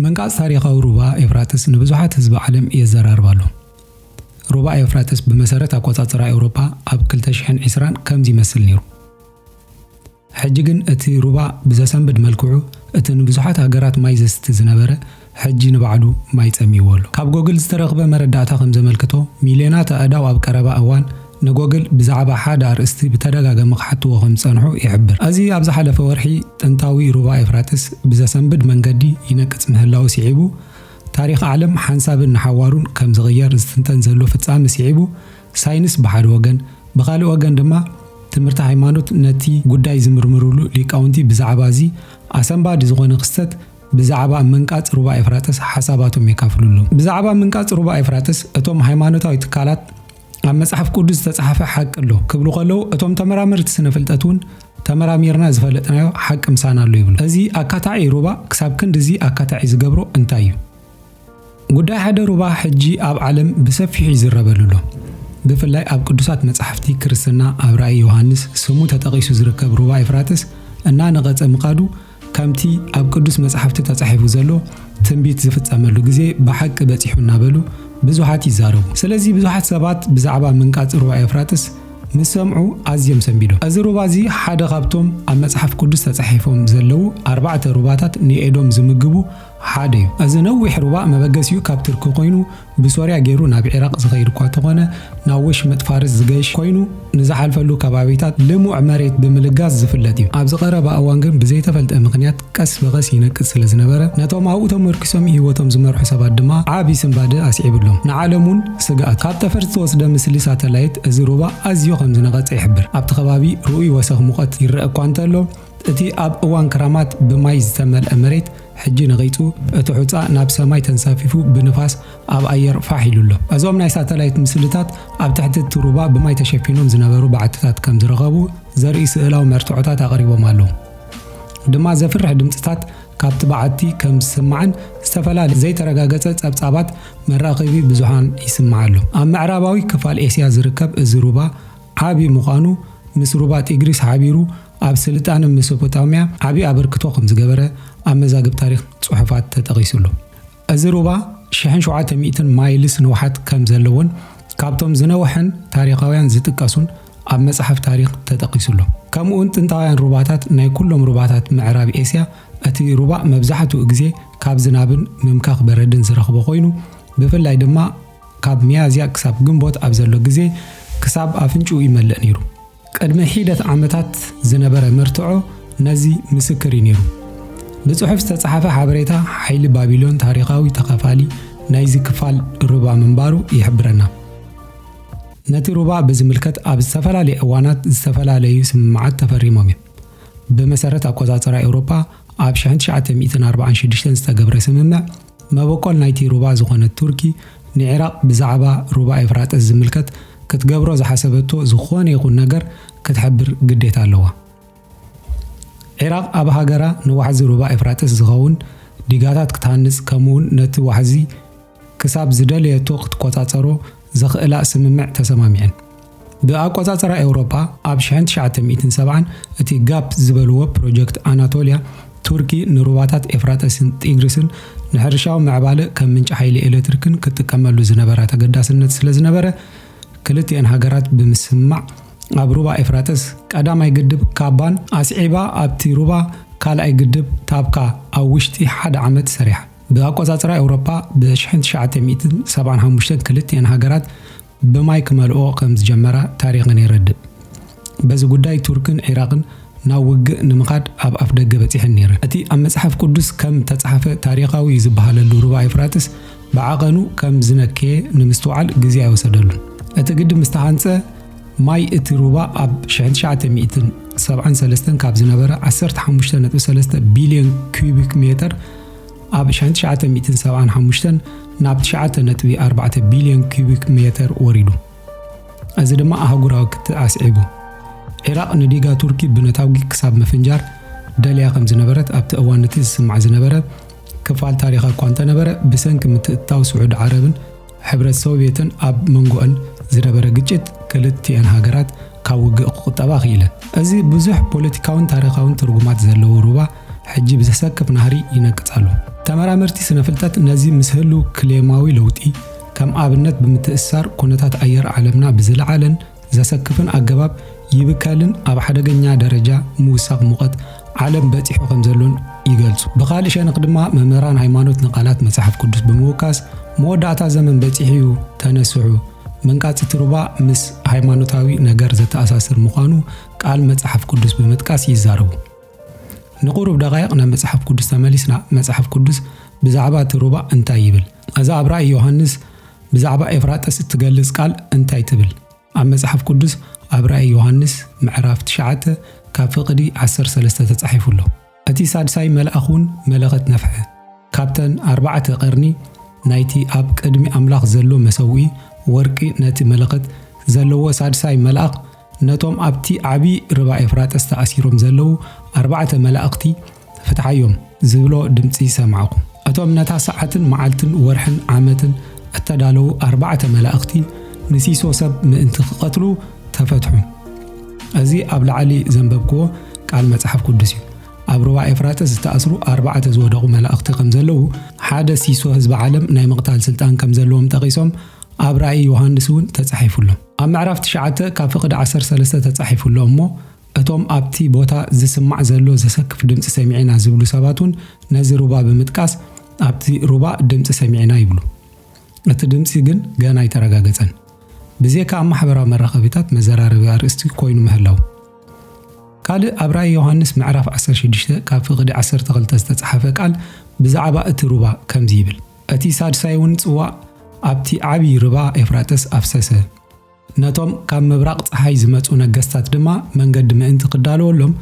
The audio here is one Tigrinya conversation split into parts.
ምንቃጽ ታሪኻዊ ሩባ ኤፍራጥስ ንብዙሓት ህዝቢ ዓለም የዘራርብ ኣሎ። ሩባ ኤፍራጥስ ብመሰረት ኣቆጻጽራ ኤውሮፓ ኣብ 2020 ከምዚ ይመስል ነይሩ። ሕጂ ግን እቲ ሩባ ብዘሰንብድ መልክዑ እቲ ንብዙሓት ሃገራት ማይ ዘስቲ ዝነበረ ሕጂ ንባዕሉ ማይ ጸምይዎ ኣሎ። ካብ ጎግል ዝተረኽበ መረዳእታ ከም ዘመልክቶ፣ ሚልዮናት ኣእዳው ኣብ ቀረባ እዋን ንጎግል ብዛዕባ ሓደ ኣርእስቲ ብተደጋገሚ ክሓትዎ ከም ዝጸንሑ ይሕብር። እዚ ኣብ ዝሓለፈ ወርሒ ጥንታዊ ሩባ ኤፍራጥስ ብዘሰንብድ መንገዲ ይነቅጽ ምህላዉ ስዒቡ ታሪኽ ዓለም ሓንሳብን ንሓዋሩን ከም ዝቕየር ዝትንተን ዘሎ ፍጻሚ ስዒቡ ሳይንስ ብሓደ ወገን፣ ብኻልእ ወገን ድማ ትምህርቲ ሃይማኖት ነቲ ጉዳይ ዝምርምርሉ ሊቃውንቲ ብዛዕባ እዚ ኣሰንባዲ ዝኾነ ክስተት ብዛዕባ ምንቃጽ ሩባ ኤፍራጥስ ሓሳባቶም የካፍልሉ። ብዛዕባ ምንቃጽ ሩባ ኤፍራጥስ እቶም ሃይማኖታዊ ትካላት ኣብ መጽሓፍ ቅዱስ ዝተጻሕፈ ሓቂ ኣሎ ክብሉ ከለዉ እቶም ተመራመርቲ ስነ ፍልጠት እውን ተመራሚርና ዝፈለጥናዮ ሓቂ ምሳና ኣሎ ይብሉ። እዚ ኣካታዒ ሩባ ክሳብ ክንድዚ ኣካታዒ ዝገብሮ እንታይ እዩ? ጉዳይ ሓደ ሩባ ሕጂ ኣብ ዓለም ብሰፊሑ ይዝረበሉ ኣሎ። ብፍላይ ኣብ ቅዱሳት መጻሕፍቲ ክርስትና ኣብ ራእይ ዮሃንስ ስሙ ተጠቒሱ ዝርከብ ሩባ ኤፍራጥስ እናነቐጸ ምኻዱ ከምቲ ኣብ ቅዱስ መጻሕፍቲ ተጻሒፉ ዘሎ ትንቢት ዝፍጸመሉ ግዜ ብሓቂ በጺሑ እናበሉ ብዙሓት ይዛረቡ። ስለዚ ብዙሓት ሰባት ብዛዕባ ምንቃጽ ሩባ ኤፍራጥስ ምስ ሰምዑ ኣዝዮም ሰንቢዶም። እዚ ሩባ እዚ ሓደ ካብቶም ኣብ መጽሓፍ ቅዱስ ተጻሒፎም ዘለዉ ኣርባዕተ ሩባታት ንኤዶም ዝምግቡ ሓደ እዩ። እዚ ነዊሕ ሩባ መበገሲኡ ካብ ትርኪ ኮይኑ ብሶርያ ገይሩ ናብ ዒራቕ ዝኸይድ እኳ ተኾነ ናብ ወሽመጥ ፋርስ ዝገሽ ኮይኑ ንዝሓልፈሉ ከባቢታት ልሙዕ መሬት ብምልጋስ ዝፍለጥ እዩ። ኣብዚ ቀረባ እዋን ግን ብዘይተፈልጠ ምኽንያት ቀስ ብቐስ ይነቅጽ ስለዝነበረ ነቶም ኣብኡ ተመርኲሶም ህይወቶም ዝመርሑ ሰባት ድማ ዓቢ ስንባደ ኣስዒብሎም ንዓለም እውን ስግኣት። ካብ ጠፈር ዝተወስደ ምስሊ ሳተላይት እዚ ሩባ ኣዝዩ ከምዝነቐጸ ይሕብር። ኣብቲ ከባቢ ርኡይ ወሰኽ ሙቐት ይረኣ እኳ እንተሎ፣ እቲ ኣብ እዋን ክራማት ብማይ ዝተመልአ መሬት ሕጂ ነቒጹ፣ እቲ ሑጻ ናብ ሰማይ ተንሳፊፉ ብንፋስ ኣብ ኣየር ፋሕ ኢሉ ኣሎ። እዞም ናይ ሳተላይት ምስልታት ኣብ ትሕቲ እቲ ሩባ ብማይ ተሸፊኖም ዝነበሩ በዓትታት ከም ዝረኸቡ ዘርኢ ስእላዊ መርትዖታት ኣቕሪቦም ኣለዉ። ድማ ዘፍርሕ ድምጽታት ካብቲ በዓቲ ከም ዝስማዕን ዝተፈላለየ ዘይተረጋገጸ ጸብጻባት መራኸቢ ብዙሃን ይስማዕ ኣሎ። ኣብ ምዕራባዊ ክፋል ኤስያ ዝርከብ እዚ ሩባ ዓቢ ምዃኑ ምስ ሩባ ጢግሪስ ሓቢሩ ኣብ ስልጣነ መሶፖታምያ ዓቢ ኣበርክቶ ከም ዝገበረ ኣብ መዛግብ ታሪኽ ጽሑፋት ተጠቒሱ ኣሎ። እዚ ሩባ ሽሕን ሸውዓተ ሚእትን ማይልስ ንውሓት ከም ዘለዎን ካብቶም ዝነውሐን ታሪኻውያን ዝጥቀሱን ኣብ መጽሓፍ ታሪኽ ተጠቒሱ ኣሎ። ከምኡውን ጥንታውያን ሩባታት ናይ ኩሎም ሩባታት ምዕራብ ኤስያ እቲ ሩባ መብዛሕትኡ ግዜ ካብ ዝናብን ምምካኽ በረድን ዝረኽቦ ኮይኑ ብፍላይ ድማ ካብ ሚያዝያ ክሳብ ግንቦት ኣብ ዘሎ ግዜ ክሳብ ኣፍንጭኡ ይመልእ ነይሩ። ቅድሚ ሒደት ዓመታት ዝነበረ መርትዖ ነዚ ምስክር እዩ ነይሩ። ብጽሑፍ ዝተጻሕፈ ሓበሬታ ሓይሊ ባቢሎን ታሪኻዊ ተኻፋሊ ናይዚ ክፋል ሩባ ምንባሩ ይሕብረና። ነቲ ሩባ ብዝምልከት ኣብ ዝተፈላለዩ እዋናት ዝተፈላለዩ ስምምዓት ተፈሪሞም እዮም። ብመሰረት ኣቆጻጽራ ኤውሮጳ ኣብ 1946 ዝተገብረ ስምምዕ መበቆል ናይቲ ሩባ ዝኾነት ቱርኪ፣ ንዒራቕ ብዛዕባ ሩባ ኤፍራጥስ ዝምልከት ክትገብሮ ዝሓሰበቶ ዝኾነ ይኹን ነገር ክትሕብር ግዴታ ኣለዋ። ዒራቕ ኣብ ሃገራ ንዋሕዚ ሩባ ኤፍራጥስ ዝኸውን ዲጋታት ክትሃንጽ ከምኡ'ውን ነቲ ዋሕዚ ክሳብ ዝደለየቶ ክትቆጻጸሮ ዘኽእላ ስምምዕ ተሰማሚዐን። ብኣቆጻጽራ ኤውሮጳ ኣብ ሽሕን ትሽዓተ ሚእትን ሰብዓን እቲ ጋፕ ዝበልዎ ፕሮጀክት ኣናቶልያ ቱርኪ ንሩባታት ኤፍራጠስን ጢግሪስን ንሕርሻዊ ምዕባለ ከም ምንጪ ሓይሊ ኤሌክትሪክን ክትጥቀመሉ ዝነበራ ተገዳስነት ስለ ዝነበረ ክልቲኤን ሃገራት ብምስምማዕ ኣብ ሩባ ኤፍራጠስ ቀዳማይ ግድብ ካባን ኣስዒባ ኣብቲ ሩባ ካልኣይ ግድብ ታብካ ኣብ ውሽጢ ሓደ ዓመት ሰሪሓ። ብኣቆጻጽራ ኤውሮጳ ብሽሕን ትሽዓተ ሚእትን ሰብዓን ሓሙሽተን ክልቲኤን ሃገራት ብማይ ክመልእኦ ከም ዝጀመራ ታሪኽን የረድእ። በዚ ጉዳይ ቱርክን ዒራቕን ናብ ውግእ ንምኻድ ኣብ ኣፍደገ በጺሐን ነይረን። እቲ ኣብ መጽሓፍ ቅዱስ ከም እተጻሕፈ ታሪኻዊ እዩ ዝበሃለሉ ሩባ ኤፍራጥስ ብዓቐኑ ከም ዝነከየ ንምስትውዓል ግዜ ኣይወሰደሉን። እቲ ግድብ ምስ ተሃንጸ ማይ እቲ ሩባ ኣብ ሽሕን ትሽዓተ ሚእትን ሰብዓን ሰለስተን ካብ ዝነበረ ዓሰርተ ሓሙሽተ ነጥቢ ሰለስተ ቢልዮን ኲዩቢክ ሜተር ኣብ ሻን ትሽዓተ ሚእትን ሰብዓን ሓሙሽተን ናብ ትሽዓተ ነጥቢ ኣርባዕተ ቢልዮን ኪዩቢክ ሜተር ወሪዱ። እዚ ድማ ኣህጉራዊ ክትዕ ኣስዒቡ። ዒራቕ ንዲጋ ቱርኪ ብነታጒ ክሳብ ምፍንጃር ደልያ ከም ዝነበረት ኣብቲ እዋን እቲ ዝስማዕ ዝነበረ ክፋል ታሪኻ እኳ እንተነበረ ብሰንኪ ምትእትታው ስዑዲ ዓረብን ሕብረት ሶቭየትን ኣብ መንጎኣን ዝነበረ ግጭት ክልቲኣን ሃገራት ካብ ውግእ ክቑጠባ ክኢለን። እዚ ብዙሕ ፖለቲካውን ታሪኻውን ትርጉማት ዘለዎ ሩባ ሕጂ ብዘሰክፍ ናህሪ ይነቅጽ ኣሎ። ተመራመርቲ ስነ-ፍልጠት ነዚ ምስ ህሉው ክሌማዊ ለውጢ ከም ኣብነት ብምትእስሳር ኩነታት ኣየር ዓለምና ብዝለዓለን ዘሰክፍን ኣገባብ ይብከልን ኣብ ሓደገኛ ደረጃ ምውሳኽ ሙቐት ዓለም በጺሑ ከም ዘሎን ይገልጹ። ብኻልእ ሸነኽ ድማ መምህራን ሃይማኖት ንቓላት መጽሓፍ ቅዱስ ብምውካስ መወዳእታ ዘመን በጺሑ'ዩ ተነስሑ መንቃጽቲ ሩባ ምስ ሃይማኖታዊ ነገር ዘተኣሳስር ምዃኑ ቃል መጽሓፍ ቅዱስ ብምጥቃስ ይዛረቡ። ንቑሩብ ደቓይቕ ናብ መጽሓፍ ቅዱስ ተመሊስና መጽሓፍ ቅዱስ ብዛዕባ እቲ ሩባ እንታይ ይብል? እዛ ኣብ ራእይ ዮሃንስ ብዛዕባ ኤፍራጥስ እትገልጽ ቃል እንታይ ትብል? ኣብ መጽሓፍ ቅዱስ ኣብ ራእይ ዮሃንስ ምዕራፍ ትሽዓተ ካብ ፍቕዲ ዓሰርተ ሰለስተ ተጻሒፉ ኣሎ። እቲ ሳድሳይ መልኣኽ እውን መለኸት ነፍሐ፣ ካብተን ኣርባዕተ ቀርኒ ናይቲ ኣብ ቅድሚ ኣምላኽ ዘሎ መሰውኢ ወርቂ ነቲ መለኸት ዘለዎ ሳድሳይ መልኣኽ ነቶም ኣብቲ ዓቢ ርባ ኤፍራጥስ ተኣሲሮም ዘለዉ ኣርባዕተ መላእኽቲ ፍትሓዮም ዝብሎ ድምጺ ሰማዕኩ። እቶም ነታ ሰዓትን መዓልትን ወርሕን ዓመትን እተዳለዉ ኣርባዕተ መላእኽቲ ንሲሶ ሰብ ምእንቲ ክቐትሉ ተፈትሑ። እዚ ኣብ ላዕሊ ዘንበብክዎ ቃል መጽሓፍ ቅዱስ እዩ። ኣብ ሩባ ኤፍራጥስ ዝተኣስሩ ኣርባዕተ ዝወደቑ መላእኽቲ ከም ዘለዉ፣ ሓደ ሲሶ ህዝቢ ዓለም ናይ ምቕታል ስልጣን ከም ዘለዎም ጠቒሶም፣ ኣብ ራእይ ዮሃንስ እውን ተጻሒፉ ኣሎ። ኣብ ምዕራፍ ትሽዓተ ካብ ፍቕዲ ዓሰርተ ሰለስተ ተጻሒፉ ኣሎ እሞ፣ እቶም ኣብቲ ቦታ ዝስማዕ ዘሎ ዘሰክፍ ድምጺ ሰሚዕና ዝብሉ ሰባት እውን ነዚ ሩባ ብምጥቃስ ኣብቲ ሩባ ድምጺ ሰሚዕና ይብሉ። እቲ ድምጺ ግን ገና ኣይተረጋገጸን። ብዜካ ኣብ ማሕበራዊ መራኸቢታት መዘራረቢ ኣርእስቲ ኮይኑ ምህላው ካልእ ኣብ ራእይ ዮሃንስ ምዕራፍ 16 ካብ ፍቕዲ 12 ዝተጻሓፈ ቃል ብዛዕባ እቲ ሩባ ከምዚ ይብል እቲ ሳድሳይውን ጽዋእ ኣብቲ ዓብዪ ርባ ኤፍራጥስ ኣፍሰሰ። ነቶም ካብ ምብራቕ ጸሓይ ዝመጹ ነገስታት ድማ መንገዲ ምእንቲ ክዳለወሎም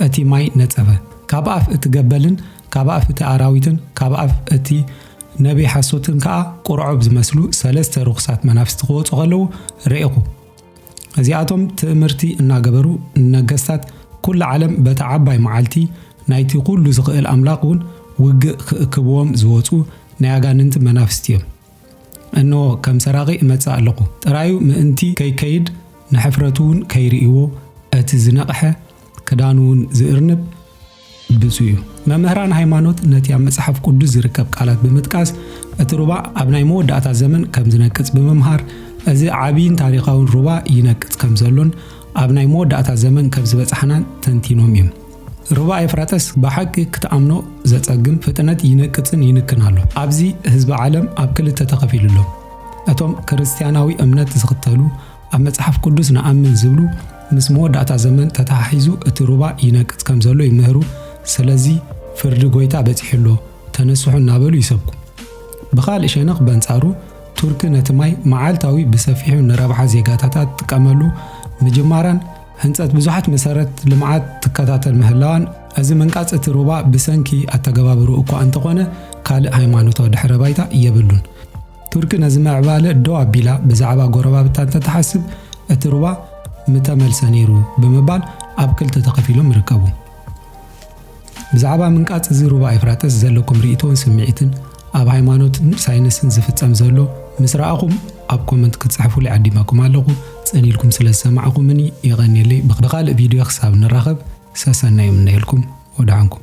እቲ ማይ ነጸፈ። ካብ ኣፍ እቲ ገበልን ካብ ኣፍ እቲ ኣራዊትን ካብ ኣፍ እቲ ነብዪ ሓሶትን ከኣ ቍርዖብ ዝመስሉ ሰለስተ ርኹሳት መናፍስቲ ክወጹ ኸለዉ ርኤኹ። እዚኣቶም ትእምርቲ እናገበሩ ንነገስታት ኩላ ዓለም በታ ዓባይ መዓልቲ ናይቲ ኩሉ ዝኽእል ኣምላኽ እውን ውግእ ክእክብዎም ዝወፁ ናይ ኣጋንንቲ መናፍስቲ እዮም። እንሆ ከም ሰራቂ እመጽእ ኣለኹ ጥራዩ ምእንቲ ከይከይድ ንሕፍረቱ እውን ከይርእይዎ እቲ ዝነቕሐ ክዳኑ እውን ዝእርንብ ብፁዕ እዩ። መምህራን ሃይማኖት ነቲ ኣብ መጽሓፍ ቅዱስ ዝርከብ ቃላት ብምጥቃስ እቲ ሩባ ኣብ ናይ መወዳእታ ዘመን ከም ዝነቅጽ ብምምሃር እዚ ዓብይን ታሪኻውን ሩባ ይነቅጽ ከም ዘሎን ኣብ ናይ መወዳእታ ዘመን ከም ዝበጽሓናን ተንቲኖም እዮም። ሩባ ኤፍራጠስ ብሓቂ ክትኣምኖ ዘጸግም ፍጥነት ይነቅጽን ይንክን ኣሎ። ኣብዚ ህዝቢ ዓለም ኣብ ክልተ ተኸፊሉ ኣሎ። እቶም ክርስትያናዊ እምነት ዝኽተሉ ኣብ መጽሓፍ ቅዱስ ንኣምን ዝብሉ ምስ መወዳእታ ዘመን ተተሓሒዙ እቲ ሩባ ይነቅጽ ከም ዘሎ ይምህሩ። ስለዚ ፍርዲ ጎይታ በጺሑ ኣሎ ተነስሑ እናበሉ ይሰብኩ። ብኻልእ ሸነኽ በንጻሩ ቱርኪ ነቲ ማይ መዓልታዊ ብሰፊሑ ንረብሓ ዜጋታታ ትጥቀመሉ ምጅማራን ህንፀት ብዙሓት መሰረት ልምዓት ትከታተል ምህላዋን እዚ ምንቃፅ እቲ ሩባ ብሰንኪ ኣተገባብሩ እኳ እንተኾነ ካልእ ሃይማኖታዊ ድሕረ ባይታ የብሉን። ቱርኪ ነዚ ምዕባለ ደው ኣቢላ ብዛዕባ ጎረባብታ እንተትሓስብ እቲ ሩባ ምተመልሰ ነይሩ ብምባል ኣብ ክልተ ተኸፊሎም ይርከቡ። ብዛዕባ ምንቃጽ እዚ ሩባ ኤፍራጥስ ዘለኩም ርእቶን ስምዒትን ኣብ ሃይማኖትን ሳይንስን ዝፍጸም ዘሎ ምስ ረኣኹም ኣብ ኮመንት ክትጽሕፉሉ ዓዲመኩም ኣለኹ ጽን ኢልኩም ስለ ዝሰማዕኹምኒ የቐንየለይ ብኻልእ ቪድዮ ክሳብ ንራኸብ ሰሰናይ እምነየልኩም ወድዓንኩም